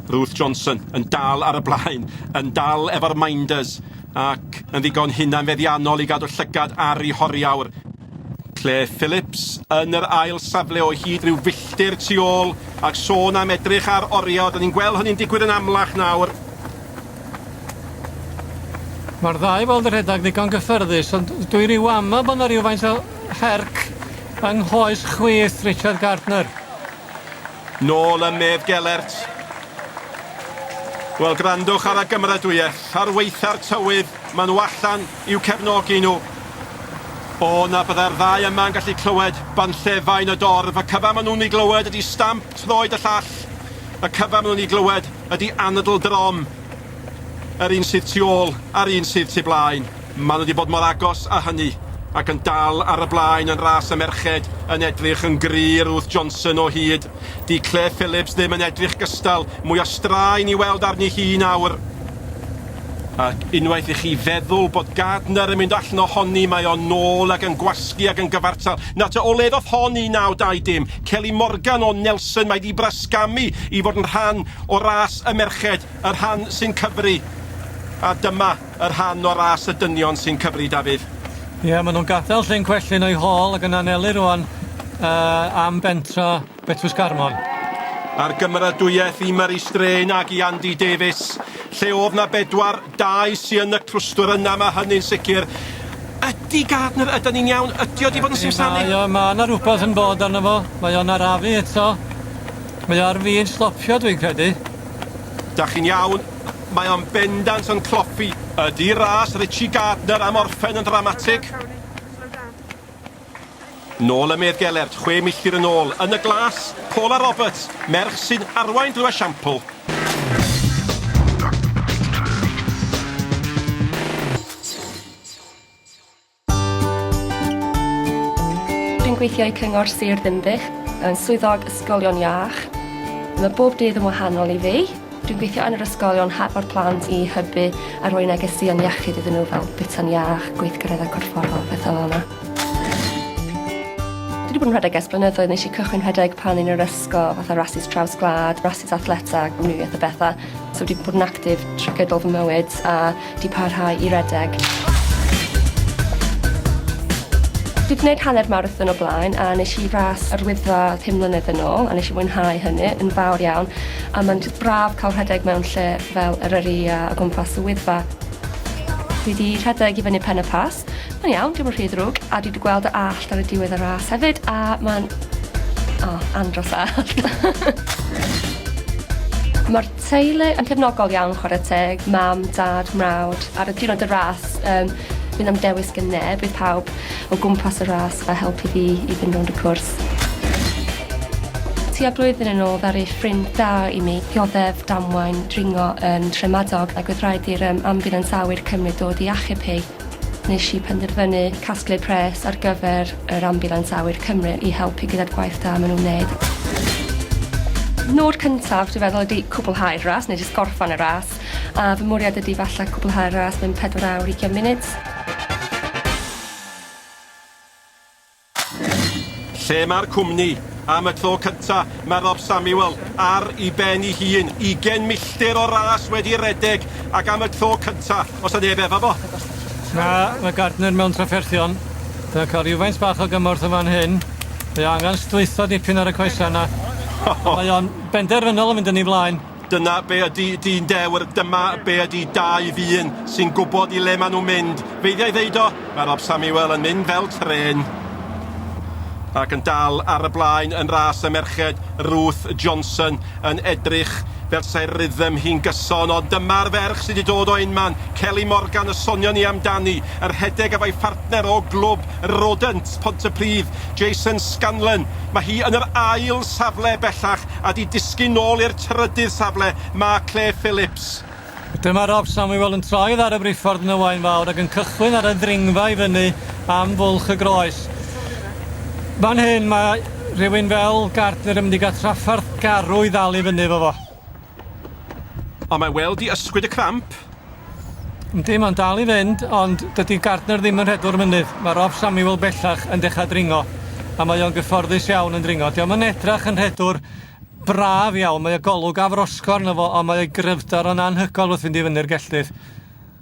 Ruth Johnson yn dal ar y blaen, yn dal efo'r Minders ac yn ddigon hunanfeddiannol i gadw llygad ar ei horiawr. Claire Phillips yn yr ail safle o hyd rhyw filltir tu ôl ac sôn am edrych ar oriau, da ni'n gweld hynny'n digwydd yn amlach nawr. Mae'r ddau weld y rhedeg ddigon gyffyrddus, ond dwi ryw ama bod yna rhywfaint o herc yng nghoes chwith Richard Gardner. Nôl yn Medd Gelert. Wel, grandwch ar y gymeradwyaeth, ar weitha'r tywydd, maen nhw allan i'w cefnogi nhw. O na byddai'r ddau yma yn gallu clywed banllefau yn y dorf, y cyfa maen nhw'n ei glywed ydy stamp troed y llall, y cyfa maen nhw'n ei glywed ydy anadl drom. Yr un sydd tu ôl a'r un sydd tu blaen. Maen nhw wedi bod mor agos â hynny, ac yn dal ar y blaen yn ras y merched yn edrych yn gry i Ruth Johnson o hyd. 'Di Claire Phillips ddim yn edrych gystal, mwy o straen i weld arni hi nawr. Ac unwaith i chi feddwl bod Gardner yn mynd allan ohoni, mae o nôl ac yn gwasgu ac yn gyfartal. Na te, o le ddoth hon i naw dau dim? Kelly Morgan o Nelson, mae 'di brasgamu i fod yn rhan o ras y merched. Y rhan sy'n cyfri. A dyma y rhan o ras y dynion sy'n cyfri, Dafydd. Ie, maen nhw'n gadael Llyn Cwellyn o'i hôl ac yn anelu rŵan uh, am bentra Betws Garmon. A'r gymeradwyaeth i Murray Strain ac i Andy Davies, lle oedd na bedwar, dau sy yn y clwstwr yna, mae hynny'n sicr. Ydy Gardner, ydy ni'n iawn, ydy o di bod yn simsanu? Mae yma yna rhywbeth yn bod arno fo, mae o'n arafu eto. Mae o ar fin stopio dwi'n credu. Dach chi'n iawn, mae o'n bendant yn cloffi. Ydy ras Richie Gardner am orffen yn ddramatig? Nôl y medd gelert, chwe milltir yn ôl, yn y glas, Paula Roberts, merch sy'n arwain drwy esiampl. Dwi'n gweithio i Cyngor Sir Ddinbych, yn Swyddog Ysgolion Iach. Mae bob dydd yn wahanol i fi. Dwi'n gweithio yn yr ysgolion hadfod plant i hybu a rhoi negeseuon iechyd iddyn nhw fel bwyta'n iach, gweithgareddau corfforol, pethau fel 'na. Dwi 'di bod yn rhedeg ers blynyddoedd, nesh i cychwyn rhedeg pan o'n i'r ysgol, fatha rasys traws gwlad, rasys athletau, amrywiaeth o betha. So dwi 'di bod yn actif trwy gydol fy mywyd a 'di parhau i redeg. Dwi 'di neud hanner marathon o blaen a nesh i ras yr Wyddfa pum mlynedd yn ôl a nesh i fwynhau hynny yn fawr iawn a ma'n jyst braf ca'l rhedeg mewn lle fel Eryri a o gwmpas y Wyddfa. Dwi 'di rhedeg i fyny Pen-y-Pass, ma'n iawn, dim yn rhy ddrwg, a dwi 'di gweld y allt ar y diwedd y ras hefyd a ma'n, o, andros o allt. Ma'r Teulu yn cefnogol iawn chware teg, mam, dad, mrawd. Ar y diwrnod y ras yym fi ddim am dewis gen neb bydd pawb o gwmpas y ras fel help i fi i fynd rownd y cwrs. Tua blwyddyn yn ôl ddaru ffrind da i mi dioddef damwain dringo yn Nhremadog ac oedd rhaid i'r yym ambiwlans awyr cymryd dod i achub hi. Nes i penderfynu casglu pres ar gyfer yr Ambiwlans Awyr Cymru i helpu gyda'r gwaith da ma' nw'n neud. Nod cyntaf dwi feddwl ydi cwblhau'r ras neu jyst gorffan y ras a fy mwriad ydi falle cwblhau'r ras mewn pedwar awr ugian munud. Lle mae'r cwmni? Am y tro cynta, mae Rob Samuel ar i ben i hun, ugen milltir o ras wedi redeg, ac am y tro cynta, os 'na neb efo fo. Na, mae Gardner mewn trafferthion. Mae cael rhywfaint bach o gymorth yn fan hyn. Mae o angen sdlwytho dipyn ar y coesau 'na. Ond mae o'n benderfynol o fynd yn ei flaen. Dyna be ydy dyn dewr, dyma be ydy dau ddyn sy'n gwybod i le maen nhw'n mynd. Feiddia i ddeud o, mae Rob Samuel yn mynd fel trên. Ac yn dal ar y blaen yn ras y merched, Ruth Johnson yn edrych fel 'sai rhythm hi'n gyson, ond dyma'r ferch sy' 'di dod o unman, Kelly Morgan y sonion ni amdani, yn rhedeg efo'i phartner o glwb Rodent, Pontypridd, Jason Scanlon. Mae hi yn yr ail safle bellach A 'di disgyn nôl i'r trydydd safle, mae Claire Phillips. Dyma Rob Samuel yn troi oddi ar y briffordd yn y Waun Fawr ac yn cychwyn ar y ddringfa i fyny am Fwlch y Groes. Fan hyn mae rhywun fel Gardner yn mynd i gael trafferth garw i ddal i fyny efo fo. Ond mae Weldy ysgwyd y cramp. Yndi, mae'n dal i fynd, ond dydy Gardner ddim yn rhedwr mynydd. Mae Rob Samuel bellach yn dechrau dringo, a mae o'n gyfforddus iawn yn dringo. Dio'm yn edrach yn rhedwr braf iawn, mae o golwg afrosgor yno fo, ond mae o'i gryfder o'n anhygoel wrth fynd i fyny'r gelltydd.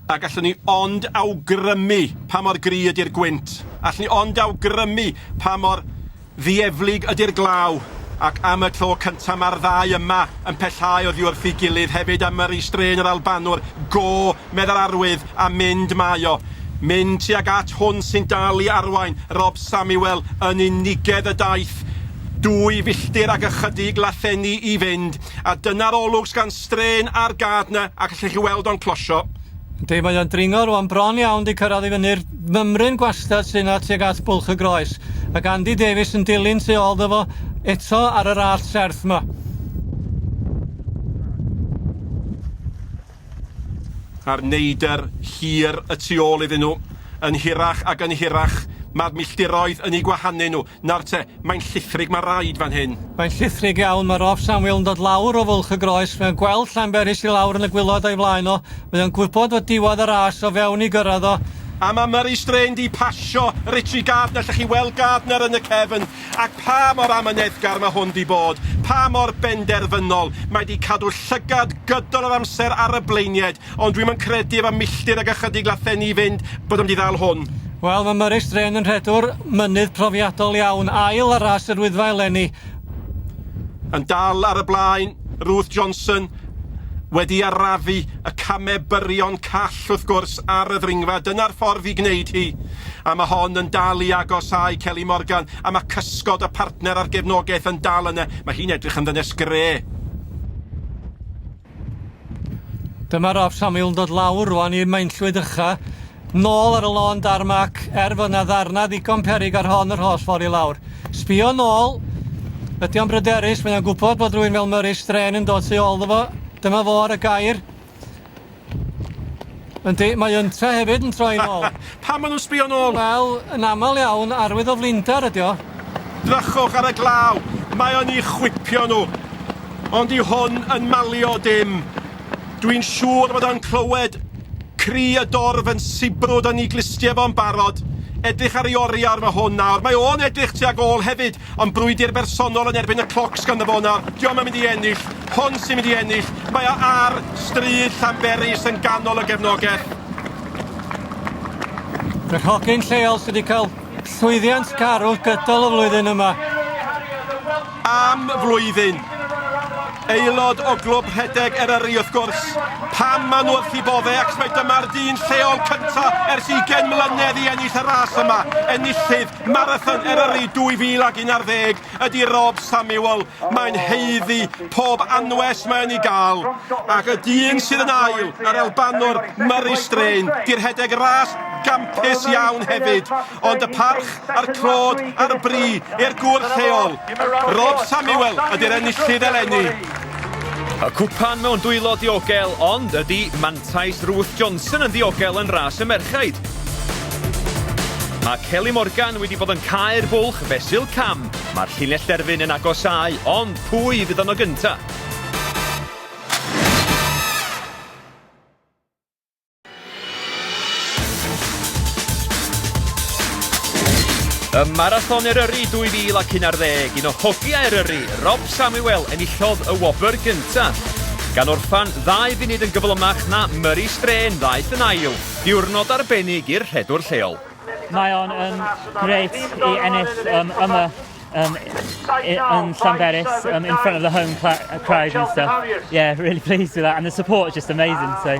A gallwn ni ond awgrymu pa mor gry ydy'r gwynt. Allwn ni ond awgrymu pa mor Ddieflig ydy'r glaw, ac am y tro cynta mae'r ddau yma yn pellhau oddi wrth ei gilydd hefyd am yrru strain yr Albanwr, go, meddai'r arwydd, a mynd mae o. Mynd tuag at hwn sy'n dal i arwain, Rob Samuel, yn unigedd y daith. Dwy filltir ac ychydig lathenni i fynd, a dyna'r olwg sgan strain ar Gardner ac allech chi weld o'n closio. Yndi, mae o'n dringo rwan, bron iawn 'di cyrraedd i fyny'r mymryn gwastad sy'n 'na tuag at Bwlch y Groes. Ac Andy Davies yn dilyn tu ôl 'ddo fo eto ar yr allt serth 'ma. A'r neidr hir y tu ôl iddyn nhw, yn hirach ac yn hirach, mae'r milltiroedd yn eu gwahanu nhw. Nawr te, mae'n llithrig ma raid fan hyn. Mae'n llithrig iawn, mae Rob Samuel yn dod lawr o fwlch y groes, mae'n gweld Llanberis i lawr yn y gwilod o'i flaen o, mae o'n gwybod fod diwadd y ras o fewn i gyrraedd o, A mae Murray Strain 'di pasio Richie Gardner, allech chi weld Gardner yn y cefn, ac pa mor amyneddgar mae hwn 'di bod, pa mor benderfynol, mae 'di cadw llygad gydol yr amser ar y blaenied, Ond dwi'm yn credu efo milltir ag ychydig lathenni i fynd bod o'n mynd i ddal hwn. Wel, mae Murray Strain yn rhedwr mynydd profiadol iawn, ail ar ras yr Wyddfa eleni. Yn dal ar y blaen, Ruth Johnson, wedi arafu y camau byrion call wrth gwrs ar y ddringfa, dyna'r ffordd i gwneud hi. A mae hon yn dal i agosáu Kelly Morgan, a mae cysgod y partner a'r gefnogaeth yn dal yna. Mae hi'n edrych yn ddynes gre. Dyma Rob Samuel yn dod lawr rwan i'r mainllwyd ucha, nôl ar y lôn darmac, er fod na ddarna ddigon peryg ar hon yr holl ffordd i lawr. Sbio nôl, ydy o'n bryderus, mae'n o'n gwybod bod rwy'n fel Murray Strain yn dod tu ôl iddo fo, dyma fo ar y gair. Yndi, mae yntau hefyd yn troi nôl. Pam ma' nhw'n sbio nôl? Wel, yn aml iawn, arwydd o flinder ydi o. Drychwch ar y glaw, mae o'n i chwipio nhw. Ond dyw hwn yn malio dim. Dwi'n siŵr fod o'n clywed cri y dorf yn sibrwd a ni glustie fo'n barod. Edrych ar ei oriawr fo hwn nawr. Mae o'n edrych tuag ôl hefyd. Ond brwydr bersonol yn erbyn y cloc sgan dy fona, diom yn mynd i ennill, hon sy'n mynd i ennill, mae o ar stryd Llanberis yn ganol y gefnogell. Y rhogyn lleol sydd wedi cael llwyddiant garw gydol y flwyddyn yma. Am flwyddyn. Aelod o glwb rhedeg Eryri wrth gwrs. Pam maen nhw wrth i bofe ac mae dyma'r dyn lleol cyntaf ers 20 mlynedd i ennill y ras yma. Enillydd Marathon Eryri 2011 ydy Rob Samuel. Mae'n heiddi pob anwes mae'n ei gael. Ac y dyn sydd yn ail, yr Albanwr Murray Strain, di rhedeg ras gampus iawn hefyd, ond y parch a'r clod a'r bri i'r gŵr lleol. Rob Samuel ydy'r enillydd eleni. Y cwpan mewn dwylo diogel, ond ydy Man Taith Ruth Johnson yn ddiogel yn ras y merchaid. Mae Kelly Morgan wedi bod yn cae'r bwlch fesul cam. Mae'r llinell derfyn yn agosau, ond pwy fydd yno gyntaf? Y Marathon Eryri 2011, un o hogiau Eryri, Rob Samuel, enillodd y wobr gyntaf. Gan orffan ddau funud yn gyflymach na Murray Strain ddaeth yn ail. Diwrnod arbennig i'r rhedwr lleol. Mae o'n um, grêt i ennill um, yma um, in Llanberis um, in front of the home crowd and stuff. Yeah, really pleased with that. And the support is just amazing. So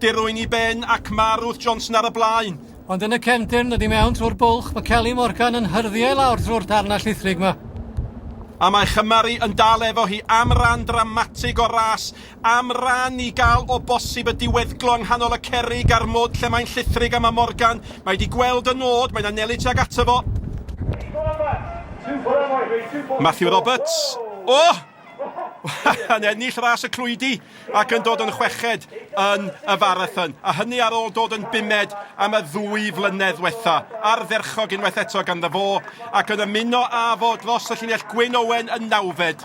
Dirwyn i ben ac ma' Ruth Johnson ar y blaen. Ond yn y cefndir, nod i mewn trwy'r bwlch, mae Kelly Morgan yn hyrddio i lawr trwy'r darnau llithrig yma. A mae Chymru yn dal efo hi am ran dramatig o'r ras, am ran i gael o bosib y diweddglo yng nghanol y cerrig a'r mwd lle mae'n llithrig a mae Morgan, mae di gweld y nod, mae'n anelu tuag ato fo. Matthew Roberts, o! yn ennill ras y clwydi ac yn dod yn chweched yn y farathon. A hynny ar ôl dod yn bumed am y ddwy flynedd wetha. Ardderchog unwaith eto gan dda fo ac yn ymuno â fo dros y llinell Gwyn Owen yn nawfed.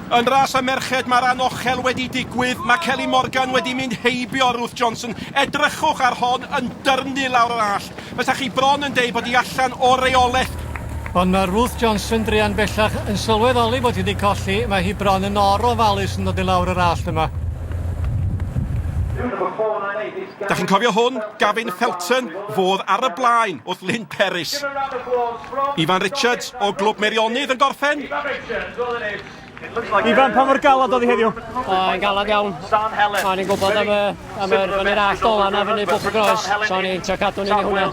Yn ras y merched mae'r anochel wedi digwydd, mae Kelly Morgan wedi mynd heibio Ruth Johnson, edrychwch ar hon yn dyrnu lawr yr allt, fysa chi bron yn deud bod hi allan o reolaeth. Ond mae Ruth Johnson druan bellach yn sylweddoli bod hi wedi colli, mae hi bron yn or o ofalus yn dod i lawr yr allt yma. Dach chi'n cofio hwn? Gavin Felton, fodd ar y blaen wrth Lyn. Peris. Ifan Richards o Glwb Meirionnydd yn gorffen. Ifan, pa mor galad oedd hi heddiw? O, yn galad iawn. O'n i'n gwybod am y, am yr fyny'r allt ola na fyny Bwlch y Gros, so o'n i'n trio cadw ni hwnna.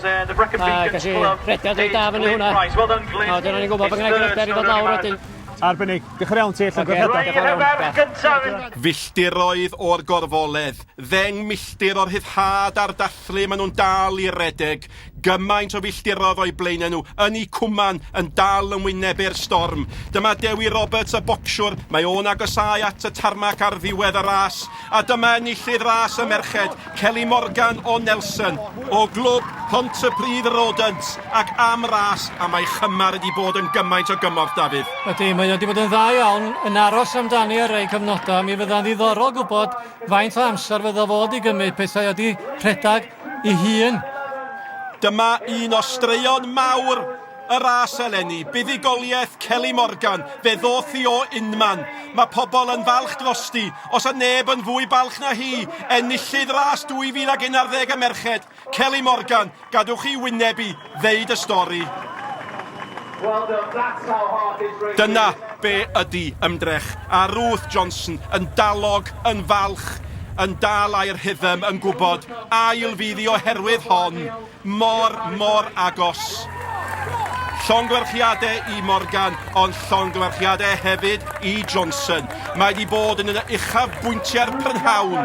A gas i rhediad reit da fyny hwnna. A wedyn o'n i'n gwybod bod gen i gryder i fod lawr wedyn. Arbennig. Diolch yn iawn ti, allan okay. gwrthredau. Filltiroedd o'r gorfoledd, ddeng milltir o'r rhyddhad a'r dathlu, maen nhw'n dal i redeg. Gymaint o filltirodd o'u blaenau nhw, yn eu cwman, yn dal yn wynebu'r storm. Dyma Dewi Roberts y bocsiwr, mae o'n agosáu at y tarmac ar ddiwedd y ras. A dyma enillydd ras y merched, Kelly Morgan o Nelson. O glwb Pontypridd Rodent ac am ras a mae Chymar wedi bod yn gymaint o gymorth, Dafydd. Ydy, mae o wedi bod yn dda iawn, yn aros amdani ar rai cyfnodau, mi fydda'n ddiddorol gwybod faint o amser fyddo fo 'di gymryd pethau wedi rhedag. ei hun. Dyma un o straeon mawr y ras eleni, buddugoliaeth Kelly Morgan, fe ddoth hi o unman. Mae pobl yn falch drosti, os a neb yn fwy balch na hi, enillydd ras 2011 y merched, Kelly Morgan, gadwch i wyneb i. ddeud y stori. Dyna be ydi ymdrech. A Ruth Johnson yn dalog, yn falch, yn dal air rhythm, yn gwybod, ail fydd i oherwydd hon, mor, mor agos. Llongyfarchiadau i Morgan, ond llongyfarchiadau hefyd i Johnson. Mae di bod yn un o uchafbwyntiau'r prynhawn.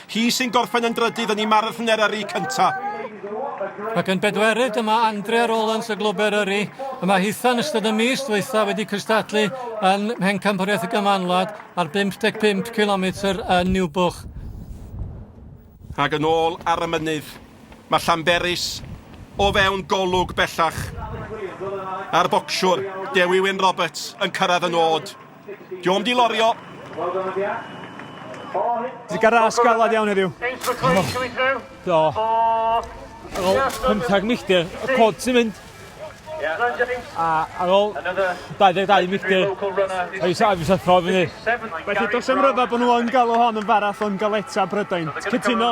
Hi sy'n gorffen yn drydydd yn i marathner yrru cyntaf. Ac yn bedwerydd dyma Andrea Rowlands y glwber yrru. Y mae hitha yn ystod y mis dweitha wedi cystadlu yn Mhencampwriaeth y Gymanwlad ar 55 cilometr yn Niwbwch. Ac yn ôl ar y mynydd, mae Llanberis o fewn golwg bellach. A'r bocsiwr, Dewi Wyn Roberts, yn cyrraedd y nod. Diom di lorio. Di garas galad iawn heddiw. Do. Ar ôl pymthag milltir, y cod sy'n mynd. A ar ôl 22 milltir, a fi sa'n thro fyny. Felly, dos am ryfa bod nhw yn galw hon yn faraf o'n galeta Brydain. Cytuno?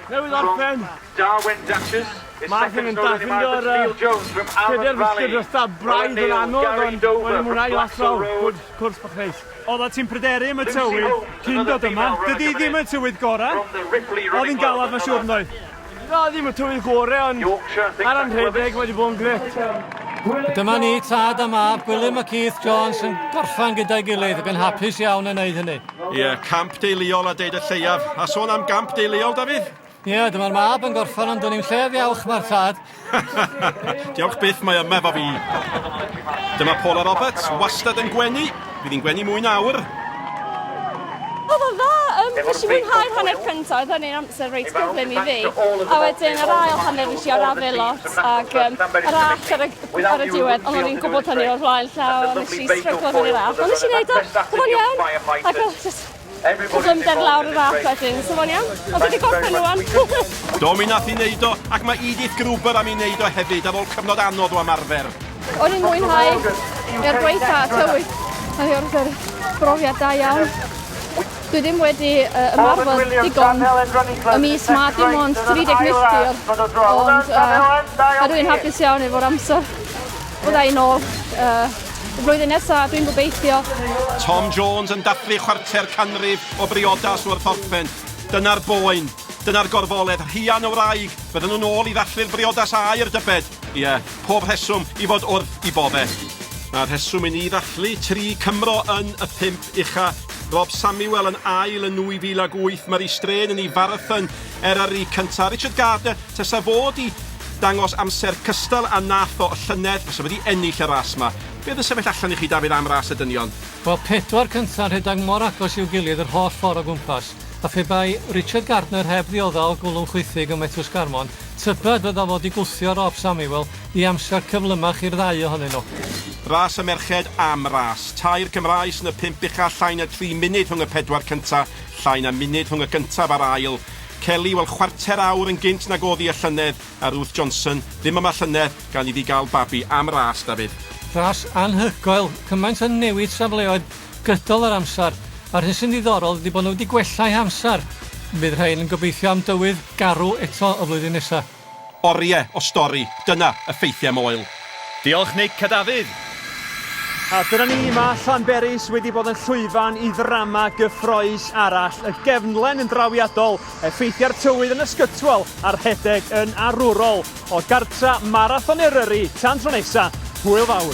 Newydd orffen. Darwen Duchess is second to Lily Margaret Steele Jones from Avon Valley. Pedair filltir dros braidd yn anodd ond o'n i'n mwynhau lot o gwrs, cwrs bach neis. Oeddet ti'n pryderu am y tywydd cyn dod yma, dydy hi ddim yn tywydd gorau, oedd hi'n galed mae'n siŵr yn doedd? Na, ddim y tywydd gorau ond ar yn rhedeg wedi bod yn grêt. Dyma ni, tad a mab, Gwilym a Keith Jones yn gorffen gyda'i gilydd ac yn hapus iawn yn wneud hynny. Ie, yeah, camp deuluol a deud y lleiaf. A sôn am gamp deuluol, Dafydd? Ie, yeah, dyma'r mab yn gorffan ond dwn i'n lle ddiawch mae'r tad. diawch byth mae yma fo fi. Dyma Paula Roberts, wastad yn gwenu. Bydd hi'n gwenu mwy nawr. Oedd o dda, um, nes i mwynhau'r hanner cyntaf, oedd hynny'n amser reit gyflym i fi. A wedyn yr ail hanner nes i ar afel lot, ac um, yr all ar y ar y diwedd, ond o'n i'n gwybod hynny o'r flaen llaw, a nes i stryglo fyny raf, ond nes i wneud o, oedd o'n iawn, ac oedd just cyflymder lawr y raf wedyn, so fo'n iawn, ond fi wedi gorffen rwan. Do, mi nath i wneud o, ac mae Edith Gruber am i wneud o hefyd ar ôl cyfnod anodd o ymarfer. O'n i'n mwynhau, er gwaetha tywydd, mae o'r brofiad da iawn. Dwi ddim wedi uh, ymarfer digon y mis ma dim ond 30 milltir ond uh, a dwi'n hapus iawn efo'r amser fydda i'n ôl uh, y flwyddyn nesaf dwi'n gobeithio. Tom Jones yn dathlu chwarter canrif o briodas wrth orffen. Dyna'r boen, dyna'r gorfoledd, rhian o wraig, bydden nhw'n ôl i ddathlu'r briodas air dybed. Ie, yeah, pob rheswm i fod wrth i bodde. Mae rheswm i ni ddathlu tri Cymro yn y pump Ucha, Rob Samuel yn ail yn 2008, Marie Strain yn ei farathon er ar ei cyntaf. Richard Gardner, tesa fo di dangos amser cystal a nath o y llynedd, fysa fo di ennill y ras ma. Be oedd yn sefyll allan i chi Dafydd am ras y dynion? Wel, pedwar cynta yn rhedag mor agos i'w gilydd yr holl ffor o gwmpas, a phe bai Richard Gardner heb ddiodda o gwlwm chwithig ym Methws Garmon, tybed fydda fo di gwthio Rob Samuel I amser cyflymach i'r ddau ohonyn nhw. Ras y merched am ras. Tair Cymraes yn y pump ucha, llai na dri munud rhwng y pedwar cynta, llai na munud rhwng y gyntaf a'r ail. Kelly, wel chwarter awr yn gynt nag oddi y llynedd, a Ruth Johnson, ddim yma llynedd, gan iddi gael babi. Am ras, Dafydd. Ras anhygoel, cymaint o newid safleoedd gydol yr amser, a'r hyn sy'n ddiddorol ydi bod nhw wedi gwella eu hamser. Bydd rhain yn gobeithio am dywydd garw eto y flwyddyn nesa. Orie o stori, dyna y ffeithiau moel. Diolch Nick a Dafydd! A dyna ni, mae Llanberis wedi bod yn llwyfan i ddrama gyffroes arall, y gefnlen yn drawiadol, effeithiau'r tywydd yn ysgytwol a rhedeg yn arwrol. O gartra Marathon Eryri, tan tro nesa, hwyl fawr!